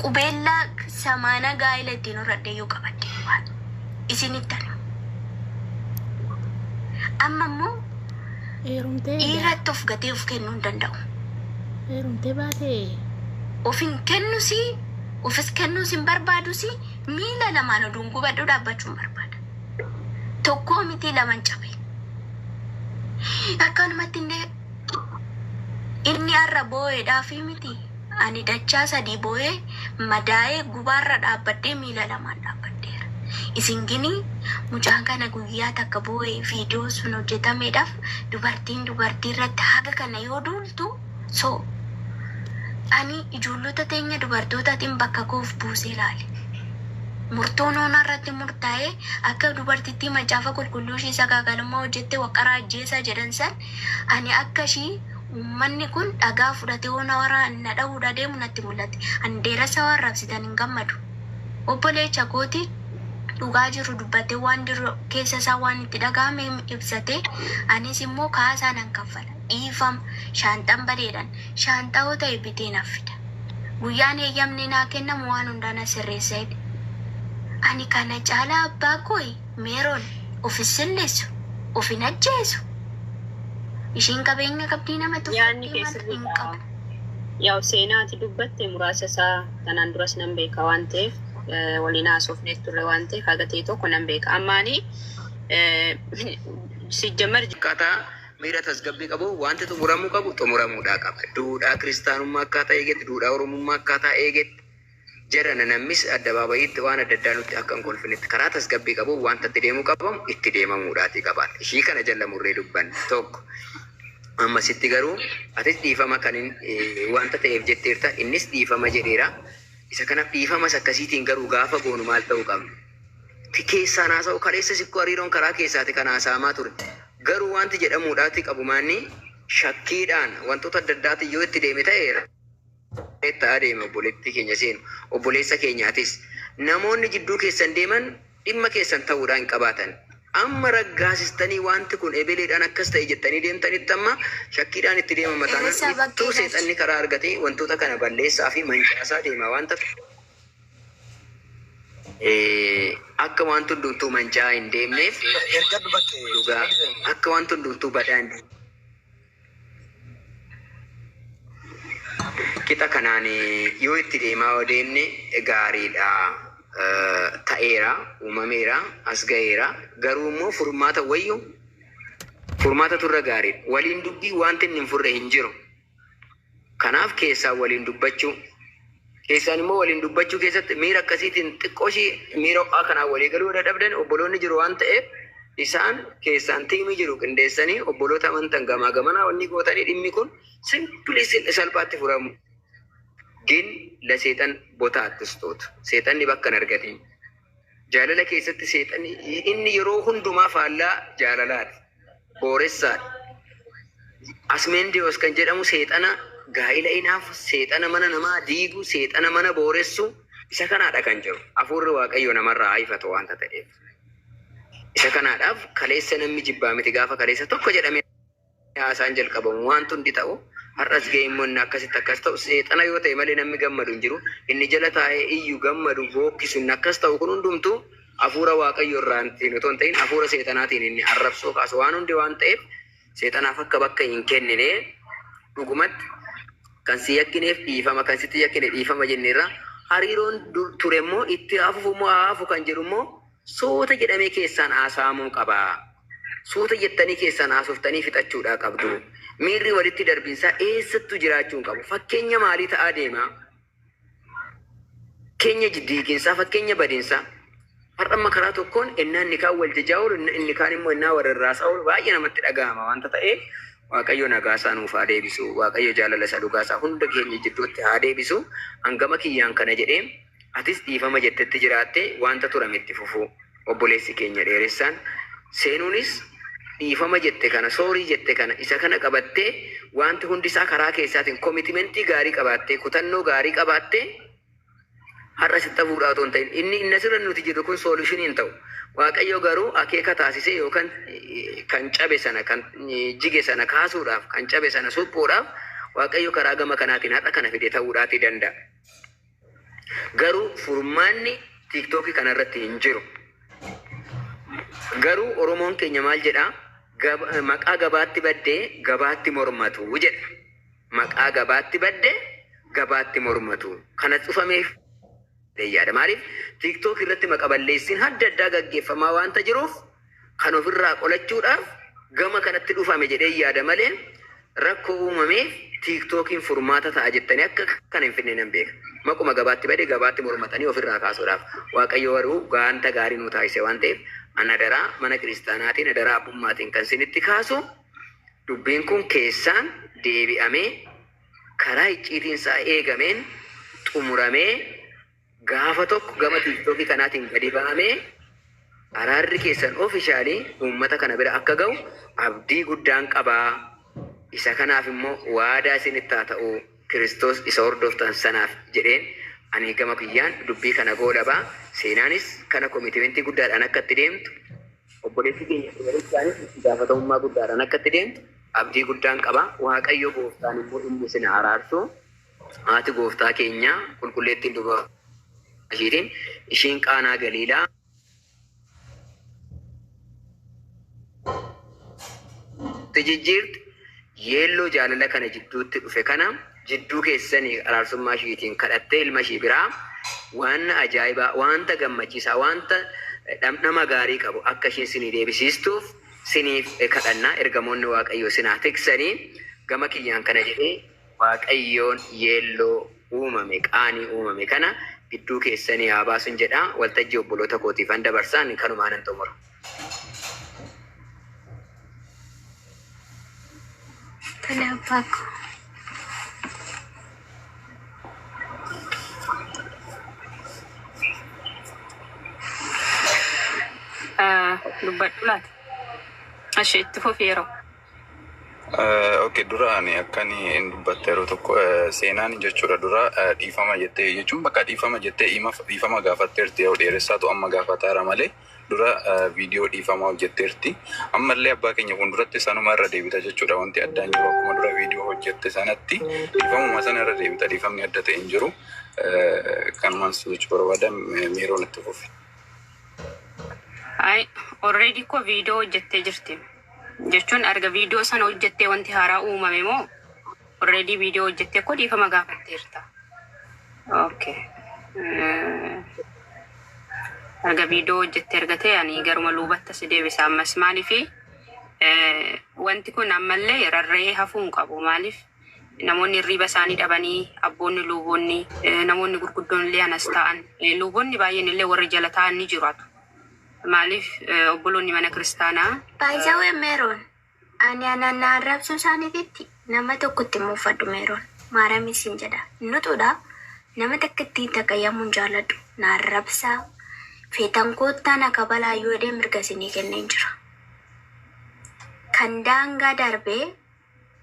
Qubeellaa samaana gaa'ila ittiin horadhe yoo qabadde waan isinitti ani. Amma immoo Heerumtee egaa. dhiiratti of gatee of kennuu hin danda'u. Heerumtee baatee. Of hin kennusi, ofis kennuus hin barbaadusi, miila lamaan oduun gubadhu dhaabbachuu hin barbaada. Tokkoo miti laman cabe. Akkanumatti illee inni har'a boo'eedhaa fi miti. Ani dachaa sadii booyee, madaayee, gubaarra dhaabbadhee miila lamaan dhaabbadheera. Isin gini, mucaan kana guyyaa takka booyee, viidiyoon sun hojjetameedhaaf, dubartiin dubartii irratti haga kana yoo duultu, so, ani ijoollota teenya dubartootatiin bakka koo uf buusee laale. Murtoon hoo narratti murtaa'ee, akka dubartittii Macaafa Qulqulluu ishii sagaagalummaa hojjette waqqara ajjeesaa jedhan san, Ani akka ishii uummanni kun dhagaa fudhatee yoo na waraan, na dhahuudhaa deemu natti mul'atti. Ani Dheeressaa waan rabsitan hin gammadu. Obboleecha kooti dhugaa jiru dubbatee waan jiru keessa isaa waan itti dhagahame ibsatee anis immoo kaasaa nan kaffala. Dhiifama. Shaanxan badeedhan shaanxaa yoo ta'e bitee naf fida. Guyyaan heeyyamni naa kennamu waan hundaa na sirreessa jedhe. Ani kana caalaa abbaa kooyi? Meeron of hin silleessu, of hin ajjeesu. Isheen qabeenya qabdii nama Yaanni tuffattee kee maal hin sirriidha. qabu. Yaa'u seenaa ati dubbatte muraasa isaa tanaan duras nan beeka waan ta'eef eh, waliin haasofnees turre waan ta'eef haga ta'e tokko nan beeka. Amma ani eh, sijjamar akkaataa miira tasgabbii qabu wanti xumuramuu qabu xumuramuudhaa qaba. Duudhaa kiristaanummaa akkaataa eegetti, duudhaa oromummaa akkaataa eegetti Jarana nammis addabaabayiitti waan adda addaa nutti akka hin kolfinetti karaa tasgabbii qabuun waanta itti deemuu qabamu itti deemamuudhaatii qabaata. Ishii kana jalla murree dubbanna. Tokko. Ammasitti garuu atis dhiifama kanin waanta ta'eef jetteerta innis dhiifama jedheera. Isa kanaaf dhiifama isa akkasiitiin garuu gaafa goonu maal ta'uu qabna? Ti keessaan haasa'u kaleessas ikkoo hariiroon karaa keessaati kan haasa'amaa ture. Garuu waanti jedhamuudhaatii qabu maanni shakkiidhaan wantoota adda addaatiin yoo itti deeme ta'eera. Kottaa deemi obboleettii keenya seenu. Obboleessa keenya atis. Namoonni jidduu keessan deeman dhimma keessan ta'uudhaa hin qabaatan. Amma raggaasistanii waanti kun ebeleedhaan akkas ta'e jettanii deemtanitti amma shakkiidhaan itti deemama taanaan ittuu seexanni karaa argatee wantoota kana balleessaa fi mancaasaa deema waan ta'f akka waanti hundumtuu manca'aa hin deemneef dhugaa akka waanti hundumtuu badaa hin deemneef. Qixa kanaan yoo itti deemaa yoo deemne gaariidha. Ta'eera, uumameera, as ga'eera. Garuu immoo furmaata wayyu furmaatatu irra gaariidha. Waliin dubbii wanti inni hin furre hin jiru. Kanaaf keessaan waliin dubbachuu. Keessaan immoo waliin dubbachuu keessatti miira akkasiitiin xiqqoo ishii miira ho'aa kanaan walii galuu yoo dadhabdan obboloonni jiru waan ta'eef isaan keessaan tiimii jiru qindeessanii obboloota amantan gamaa gamanaa wanni gootanii dhimmi kun simpilii salphaatti furamu. Gin la seexan bota attistoota. Seexanni bakka hin argatiin. Jaalala keessatti seexanni inni yeroo hundumaa faallaa jaalalaati. booressaadha. Asmeendewoos kan jedhamu seexana gaa'ila inaafu, seexana mana namaa diigu, seexana mana booressu isa kanaadha kan jiru. Hafuurri Waaqayyoo namarraa haa ifatu waanta ta'eef. Isa kanaadhaaf kaleessa namni jibbaa miti gaafa kaleessa tokko jedhamee haasaan jalqabamu waanti hundi ta'u har'as ga'e immoo inni akkasitti akkas ta'u seexana yoo ta'e malee namni gammadu hin jiru. Inni jala taa'ee iyyu gammadu bookkisu inni akkas ta'u kun hundumtuu Hafuura Waaqayyo irraatiin otoo hin ta'in hafuura seexanaatiin inni arrabsoo kaasu waan hundi waan ta'eef seexanaaf akka bakka hin kennine dhugumatti kan si yakkineef dhiifama kan sitti yakkine dhiifama jenneerra hariiroon dur ture immoo itti haafufu immoo haafu kan jedhu immoo suuta jedhamee keessaan haasaamuu qaba. Suuta jettanii keessaan haasoftanii fixachuudhaa qabdu. Miirri walitti darbinsaa eessattuu jiraachuu hin qabu. Fakkeenya maalii ta'aa deemaa? keenya jiddu hiiqiinsaa, fakkeenya badiinsaa. Har'a amma karaa tokkoon ennaa inni kaan wal jajaa oolu, inni inni kaan immoo ennaa wal rarraasaa oolu baay'ee namatti dhaga'ama waanta ta'eef Waaqayyo nagaa isaa nuuf haa deebisu, Waaqayyo jaalala isa dhugaa isaa hunda keenya jidduutti haa deebisu. An gama kiyyaan kana jedhee atis dhiifama jettetti jiraattee waanta turame itti fufuu. obboleessi keenya dheeressaan seenuunis dhiifama jette kana soorii jette kana isa kana qabattee wanti hundi isaa karaa keessaatiin komitimentii gaarii qabaattee kutannoo gaarii qabaattee har'a sitti hafuudhaa otoo hin ta'in inni inni asirra nuti jirru kun soolushinii hin ta'u. Waaqayyo garuu akeeka taasisee yookaan eh, kan cabe sana kan eh, jige sana kaasuudhaaf kan cabe sana suphuudhaaf Waaqayyo karaa gama kanaatiin har'a kana fide ta'uudhaatii danda'a. Garuu furmaanni tiktoki kana irratti hin jiru. Garuu Oromoon keenya maal jedha? Gab- Maqaa gabaatti badde gabaatti mormatu jedha. Maqaa gabaatti badde gabaatti mormatu. Kana cufameef jedhee yaada. Maaliif tiktoki irratti maqa balleessiin adda addaa gaggeeffamaa waanta jiruuf kan ofirraa qolachuudhaaf gama kanatti dhufame jedheen yaada malee rakkoo uumameef tiiktookiin furmaata ta'a jettanii akka kana hin fidne nan beeka. Maquma gabaatti bade gabaatti mormatanii ofirraa kaasuudhaaf. Waaqayyo garuu gaanta gaarii nuu taasise waan ta'eef an adaraa mana kiristaanaatiin adaraa abbummaatiin kan sinitti kaasu dubbiin kun keessaan deebi'amee karaa icciitiin isaa eegameen xumuramee Gaafa tokko gama TikTok kanaatiin gadi ba'amee araarri keessan officially uummata kana bira akka ga'u abdii guddaan qaba. Isa kanaaf immoo waadaa isinitti haa ta'u Kiristoos isa hordoftan sanaaf jedheen ani gama kiyyaan dubbii kana goolaba. Seenaanis kana komitimeentii guddaadhaan akka itti deemtu obboleettii keenya Seenaarichaanis itti gaafatamummaa guddaadhaan akka itti deemtu abdii guddaan qaba. Waaqayyo gooftaan immoo inni isin haa araarsu. Haati Gooftaa keenyaa Qulqulleettiin Dubaraa ishiitiin, ishiin Qaanaa Galiilaa, itti jijjiirte, yeelloo jaalala kana jidduutti dhufe kana jidduu keessanii araarsummaa ishiitiin kadhattee ilma ishii biraa waanna ajaa'ibaa, waanta gammachiisaa, waanta dhamdhama gaarii qabu akka ishiin sinii deebisiistuuf siniif kadhanna, ergamoonni Waaqayyoo sin haa tiksanii, gama kiyyaan kana jedhee Waaqayyoon yeelloo uumame, qaanii uumame kana gidduu keessanii haa baasun jedha. Waltajjii obboloota kootiifan dabarsa. Ani kanumaanan xumura. Tole abbaa koo. Dubbadhu laata? Ishee itti fufi yeroo. Okay dura ani akkan in dubbatte yeroo tokko seenaan jechuudha dura dhiifama jettee jechuun bakka dhiifama jettee himaf dhiifama gaafatteerti yoo dheeressaatu amma gaafataara malee dura viidiyoo dhiifamaa hojjetteerti ammallee abbaa keenya fuulduratti sanuma irra deebita jechuudha wanti addaan jiru akkuma dura viidiyoo hojjette sanatti dhiifamuma sana irra deebita dhiifamni adda ta'e hin jiru kanumaan si jechuu barbaada miiroon itti fufe. Ay, already ko viidiyoo hojjettee jirti. Jechuun erga video sana hojjettee wanti haaraa uumame moo already video hojjettee koo dhiifama gaafatteerta. Okay. Erga video hojjettee erga ta'e ani garuma luubatta si deebisa ammas maaliifi wanti kun ammallee rarra'ee hafuu hin qabu maaliif namoonni hirriiba isaanii dhabanii abboonni luuboonni namoonni gurguddoon illee anas ta'an luuboonni baay'een illee warri jala ta'an ni jiraatu. Maaliif obboloonni mana kiristaanaa. By the way meron ani ana na arrabsuu isaanititti nama tokko itti hin muufadhu meron maaramiin siin jedha hin utuudha nama takka itti hin taqayyamu hin jaaladhu na arrabsaa feetan koottaa na kabalaa yoo jedhee mirga isinii kenneen jira kan daangaa darbee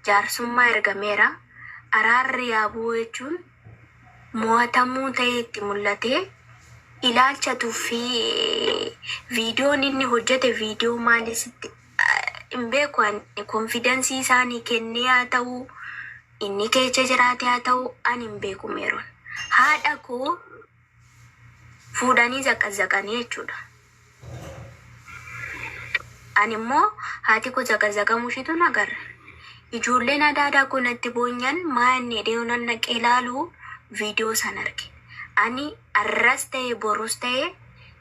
jaarsummaa ergameera. Araarri yaa bu'u jechuun mo'atamuu ta'ee itti mul'ate. Ilaalcha tuffii viidiyoon inni hojjete viidiyoo maali sitti hin beeku ani konfidansii isaanii kennee haa ta'u inni keecha jiraate haa ta'u ani hin beeku meeroon haadha koo fuudhanii zaqazzaqanii jechuudha. Ani immoo haati koo zaqazzaqamuu ishiitu na garre. Ijoolleen adaadaa koo natti boonyan maa inni jedhee yonan naqee ilaalu viidiyoo san arge. Ani arras ta'e borus ta'e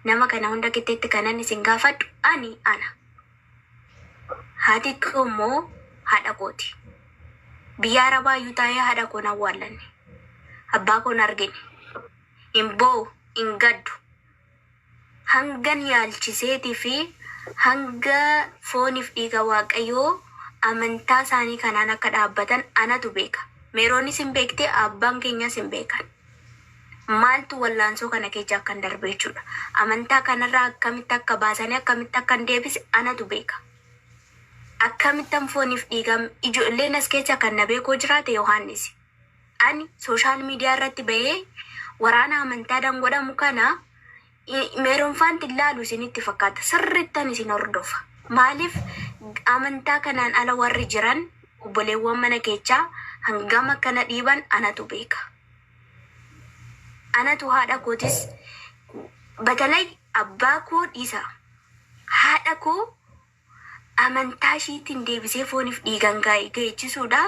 nama kana hunda kitteetti kanan isin gaafadhu ani ana. Haati koo immoo haadha kooti. Biyya Arabaa iyyuu taa'ee haadha koo hin awwaallanne. Abbaa koo hin argine. Hin boo'u, hin gaddu. Hangan yaalchiseetii fi hanga fooniif dhiiga Waaqayyoo amantaa isaanii kanaan akka dhaabbatan anatu beeka. Meeroonis hin beekti, abbaan keenyas hin beekan. maaltu wallaansoo kana keecha akkan darbe jechuudha. Amantaa kanarraa akkamitti akka baasanii akkamitti akkan deebise anatu beeka. Akkamittan fooniif dhiigaan ijoolleen as keessa kan na beekoo jiraate Yohaannisi. Ani sooshaal miidiyaa irratti bahee waraana amantaadhaan godhamu kana Meeronfaanti laalu isinitti fakkaata. Sirrittan isin hordofa. Maaliif amantaa kanaan ala warri jiran obboleewwan mana keechaa hangam akka na dhiiban anatu beeka. Anatu haadha kootis batalay abbaa koo dhiisa haadha koo amantaa ishiitiin deebisee fooniif dhiigaan gaa'ichisudha.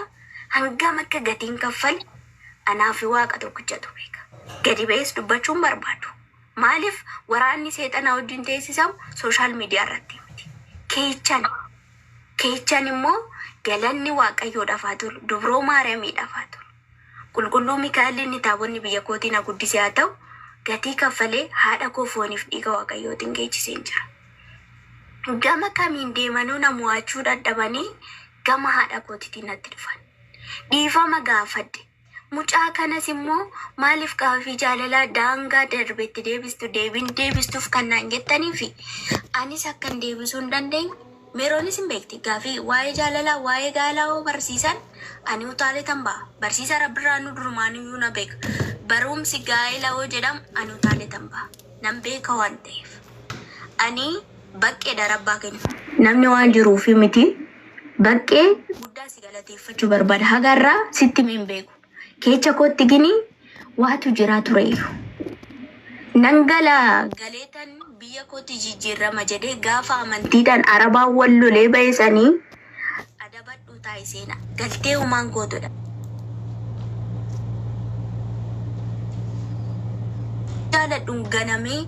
Hangam akka gatiin kaffale anaa fi Waaqa tokkichatu beeka. Gadi ba'ees dubbachuu hin barbaadu. Maaliif waraanni seexanaa wajjin teessisamu sooshaal miidiyaa irratti miti. Keechan keechan immoo galanni Waaqayyoodhaaf haa tolu, Dubroo Maariyaamiidhaaf haa tolu. Qulqulluu Mikaa'el inni Taabonni biyya kootii na guddise haa ta'u, gatii kaffalee haadha koo fooniif dhiiga Waaqayyootiin geechiseen jira. Gama kamiin deemanuu na mo'achuu dhadhabanii gama haadha kootitiin natti dhufan. Dhiifama gaafadhe. Mucaa kanas immoo maaliif gaafii jaalalaa daangaa darbe itti deebistu deebiin deebistuuf kan naan jettaniifi anis akkan deebisuu hin dandeenye Meeroonis hin beekti. Gaafii waa'ee jaalalaa, waa'ee gaa'elaa hoo barsiisan ani utaaleetan ba'a. Barsiisa Rabbirraanuu durumaanuyyuu na beeka. Baruumsi gaa'ela hoo jedhamu ani utaaleetan ba'a. Nan beeka waan ta'eef. Ani baqqeedha Rabbaa keenya. Namni waan jiruufi miti. Baqqee guddaa si galateeffachuu barbaada. Haga har'aa sitti himee hin beeku. Keecha kootti gini waatu jiraa tureeyyu. Nan gala galeetan biyya kootti jijjiirrama jedhee gaafa amantiidhaan Arabaan wal lolee bahe sani adabadhuu taa'i seena. Galtee humaan kootudha. jaaladhun ganamee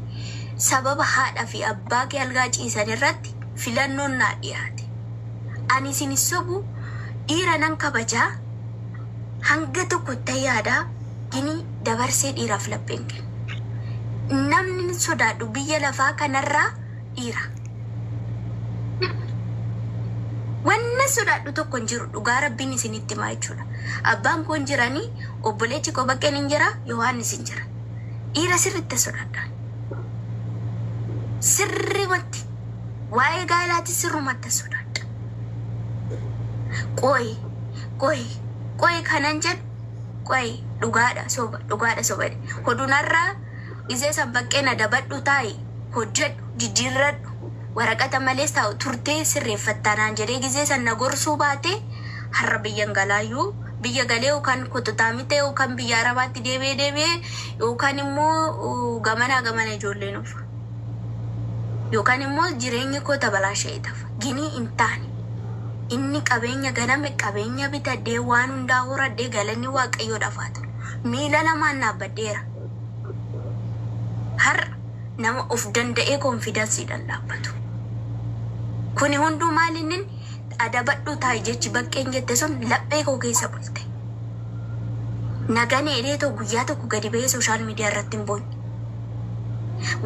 sababa haadha fi abbaa kee algaa ciisan irratti filannoon naa dhiyaate. Ani isin hin sobu dhiira nan kabajaa hanga tokko ittan yaada gini dabarsee dhiiraaf laphee hin kennu. Namnin sodaadhu biyya lafaa kanarraa dhiira. Wannan sodaadhu tokko hin jiru dhugaa rabbiin isinitti himaa jechuudha. Abbaan koo hin jiranii, obboleechi koo baqqeen hin jira, Yohaannis hin jira. Dhiira sirriitti sodaadha. Sirrimatti waa'ee gaa'elaati sirrumatti sodaadha. Qooyi Qoyi qoyi kanan jedhu qoyi dhugaadha soba dhugaadha soba hodu narra gizee san baqqee na dabadhu taa'i hojjedhu jijjiirradhu waraqata malees taa'u turtee sirreeffattaa naan jedhee gizee san na gorsuu baatee har'a biyyan galaayyuu biyya galee yookaan kototaamitee yookaan biyya arabaatti deebi'ee deebi'ee yookaan immoo gamanaa gamana ijoolleen ulfa yookaan immoo jireenyi koo tabalaasha'ee tafa. Ginii hin taane. Inni qabeenya ganame, qabeenya bitadhee, waan hundaa horadhee galanni Waaqayyoodhaaf haa ta'u. Miila lamaan dhaabbadheera. Har'a nama of danda'ee konfidansiidhaan dhaabbatu. Kuni hunduu maal innin adabadhuu taa'i jechi baqqeen jette sun laphee koo keessa bulte. Nagan eedhee too guyyaa tokko gadi ba'ee sooshaal miidiyaa irratti hin boonye.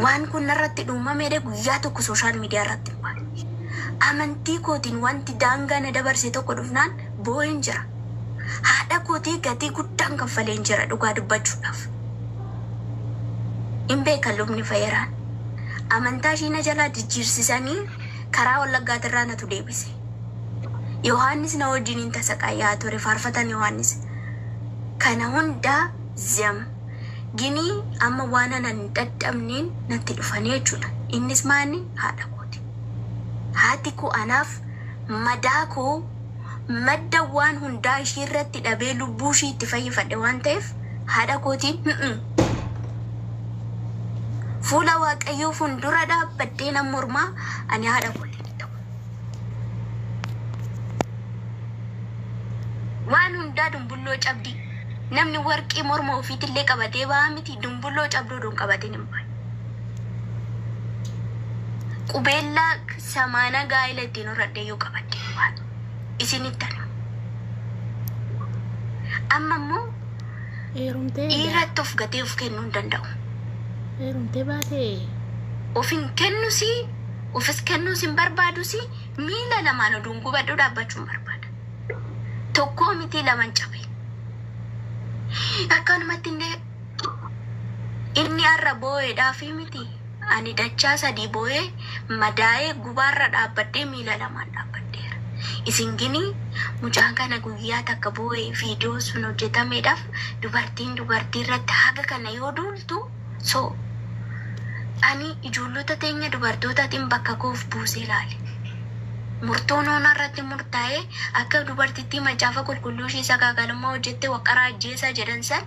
Waan kun narratti dhuumamee guyyaa tokko sooshaal miidiyaa irratti Amantii kootiin wanti daangaa na dabarse tokko dhufnaan boo'een jira. Haadha kootii gatii guddaan kaffaleen jira dhugaa dubbachuudhaaf. Hin beeka lubni Fayeraan. Amantaa ishii na jalaa jijjiirsisanii karaa Wallaggaatirraa natu deebise. Yohaannis na wajjiniin tasaqaayyaa ture faarfataan Yohaannis. Kana hundaa zem. Ginii amma waan anan hin dhadhabneen natti dhufanii jechuudha. Innis maanni haadha kooti. Haati koo anaaf madaa koo madda waan hundaa ishii irratti dhabee lubbuu ishii itti fayyifadhe waan ta'eef haadha kootiin hm'm. Fuula Waaqayyoo fundura dhaabbadhee nan mormaa ani haadha kootiin hin ta'u. Waan hundaa dunbulloo cabdii. Namni warqii morma ufiitillee qabatee baha miti, dumbulloo cabduu odoo hin qabatin hin bahan. Qubeellaa samaana gaa'ila ittiin horradheeyyuu qabattee hin baatu. Isinittan hima. Amma immoo Heerumtee daa- dhiirratti of gatee of kennuu hin danda'u. heerumtee baatee Of hin kennusi, ofis kennuus hin barbaadusi, miila lamaan oduun gubadhuu dhaabbachuu hin barbaada. Tokkoo mitii laman cabe. Akkanumatti illee inni har'a boo'eedhaafii miti ani dachaa sadii boo'ee madaa'ee gubaarra dhaabbadhee miila lamaan dhaabbadheera. Isin gini mucaan kana guyyaa takka boo'ee viidiyoo sun hojjetameedhaaf dubartiin dubartii irratti haga kana yoo duultu So, ani ijoollota teenya dubartootatiin bakka koo of buusee ilaale. Murtoon Oonaa irratti murtaa'e, akka dubartittii Macaafa Qulqulluu ishii sagaagalummaa hojjette waqqaraa ajjeesaa jedhan san,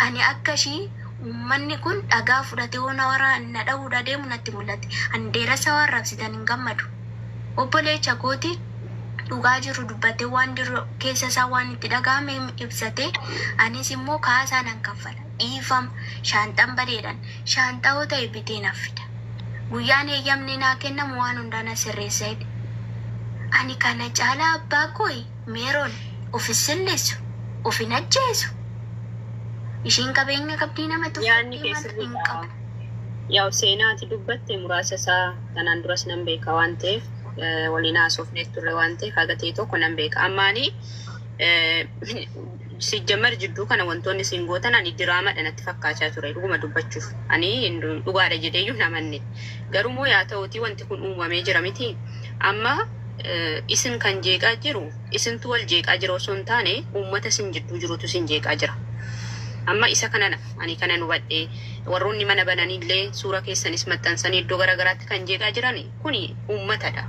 ani akka ishii uummanni kun dhagaa fudhatee Oonaa waraan na dhahuudha deemu natti mul'ate. Ani dheeressa waan raabsitan hin gammadu. Obboleecha kooti dhugaa jiru dubbatee waan jiru keessa isaa waan itti dhaga'ame ibsate, anis immoo kaasaa nan kaffala. Dhiifam, shaanxan badeedhan shaanxa hoo ta'e bitee naf fida. Guyyaan heeyyamni naa kennamu waan hundaa na sirreessa jedhe. Ani kana caalaa abbaa kooyi Meeron of hin silleessu, of hin ajjeesu. Isheen qabeenya qabdii nama Yaanni tuffattee kee maal hin sirriidha. qabu. Yaw seenaa ati dubbatte muraasa isaa kanaan duras nan beeka waan ta'eef eh, waliin haasofnees turre waan ta'eef haga ta'e tokko nan beeka. Amma ani eh, Sijjammer jidduu kana wantoonni isin gootan ani diraamadha natti fakkaachaa ture dhuguma dubbachuuf ani dhugaadha jedheeyyuu hin amanne garuu moo yaa ta'uutii wanti kun uumamee jira miti amma isin kan jeeqaa jiru isintu wal jeeqaa jira osoo hin taane uummata isin jidduu jirutu isin jeeqaa jira amma isa kanana ani kanan hubadhe warroonni mana bananiillee suura keessanis maxxansanii iddoo garaagaraatti kan jeeqaa jirani Kuni ummatadha.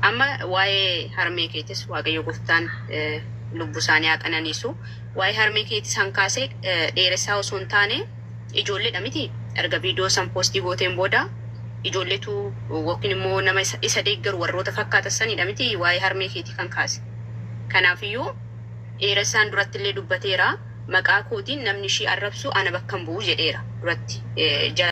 Amma waa'ee harmee keetis waaqayyo goftaan lubbu isaanii haa qananiisu. Waa'ee harmee keeti san kaase dheeressaa osoo hin taane ijoolleedha miti? Erga viidiyoo san poostii gooteen booda ijoolletu yookiin immoo nama isa, isa deeggaru warroota fakkaatan sanidha miti waa'ee harmee keetii kan kaase. Kanaafiyyuu dheeressaan duratti illee dubbateera maqaa kootiin namni ishii arrabsu ana bakka hin bu'u jedheera duratti. Eh, jala-